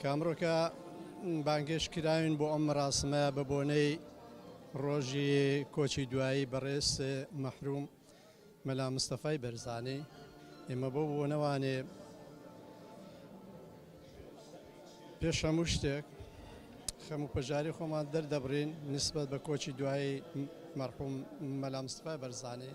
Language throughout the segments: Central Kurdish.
کامڕۆکە بانگێش کراوین بۆ ئەم ڕاستمە بە بۆنەی ڕۆژی کۆچی دوایی بەڕێز مەحروم مەلا مستەفای بەرزانی ئێمە بۆ بۆ نەوانێ پێش هەموو شتێک خەم و پەژاری خۆمان دەردەبڕین نسبەت بە کۆچی دوایی مەرحوم مەلا مستەفای بەرزانی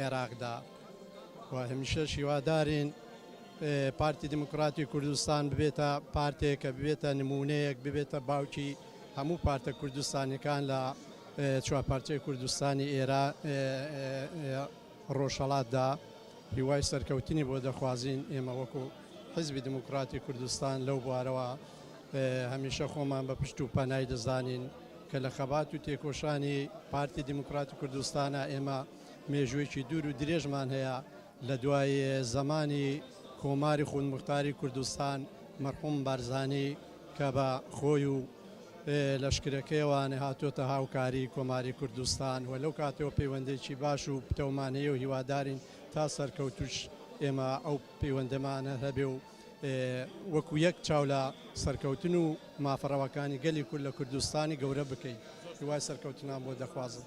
عێراقدا و هەمیشەش هیوادارین پارتی دیموکراتی کوردستان ببێتە پارتێک کە ببێتە نمونەیەک ببێتە باوکی هەموو پارتە کوردستانەکان لە چوارپارچەی کوردستانی ئێرا ڕۆژهڵاتدا هیوای سەرکەوتنی بۆ دەخوازین ئێمە وەکو حزبی دموکراتی کوردستان لەو بوارەوە هەمیشە خۆمان بە پشت و پەنای دەزانین کە لە خەبات و تێکۆشانی پارتی دیموکراتی کوردستانا ئێمە مێژوویەکی دوور و درێژمان هەیە لە دوای زەمانی کۆماری خودموختاری کوردستان مەرحوم بارزانی کە بە خۆی و لەشکرەکەیەوانە هاتۆتە هاوکاری کۆماری کوردستان و لەو کاتەوە پەیوەندێکی باش و پتەومانەیە و هیوادارین تا سەرکەوتوش ئێمە ئەو پەیوەندەمانە هەبێ و وەکو یەک چاو لە سەرکەوتن و مافە ڕەواکانی گەلی کورد لە کوردستانی گەورە بکەین. هیوای سەرکەوتنان بۆ دەخوازم.